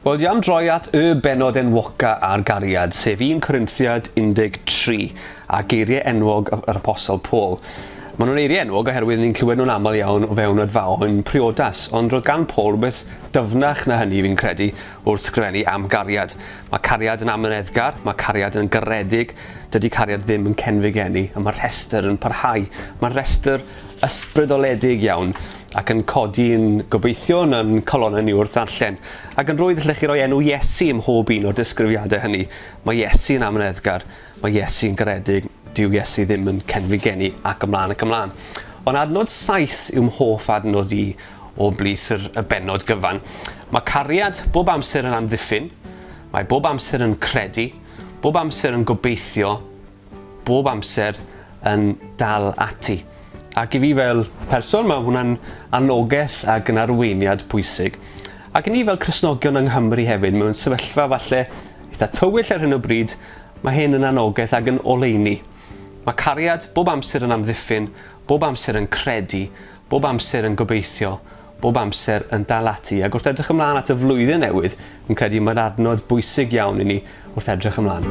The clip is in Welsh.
Wel, jam droi at y benod enwoca ar gariad, sef 1 Corinthiad 13, a geiriau enwog yr Apostol Paul. Maen nhw'n eiriau enwog oherwydd ni'n clywed nhw'n aml iawn o fewn adfaon priodas, ond roedd gan Paul rhywbeth dyfnach na hynny fi'n credu, Wrth sgrifennu am gariad. Mae cariad yn amyneddgar, mae cariad yn garedig, dydy cariad ddim yn cenfigeni, a mae'r rhestr yn parhau. Mae'r rhestr ysbrydoledig iawn, ac yn codi yn gobeithio yn yn calonnau ni wrth ddarllen. Ac yn rwydd allech chi roi enw Iesu ym mhob un o'r disgrifiadau hynny. Mae Iesu yn amyneddgar, mae Iesu yn garedig, dyw Iesu ddim yn cenfigeni, ac ymlaen ac ymlaen. Ond adnod saith yw mhoff adnod i, O blith yr y bennod gyfan. Mae cariad bob amser yn amddiffyn, mae bob amser yn credu, bob amser yn gobeithio, bob amser yn dal ati. Ac i fi fel person mae hwnna'n annogaeth ac yn arweiniad pwysig. Ac i ni fel Cristnogion yng Nghymru hefyd mewn sefyllfa falle eitha tywyll ar hyn o bryd, mae hyn yn annogaeth ac yn oleuni. Mae cariad bob amser yn amddiffyn, bob amser yn credu, bob amser yn gobeithio, bob amser yn dal ati, ac wrth edrych ymlaen at y flwyddyn newydd, fi'n credu mae'r adnod bwysig iawn i ni wrth edrych ymlaen.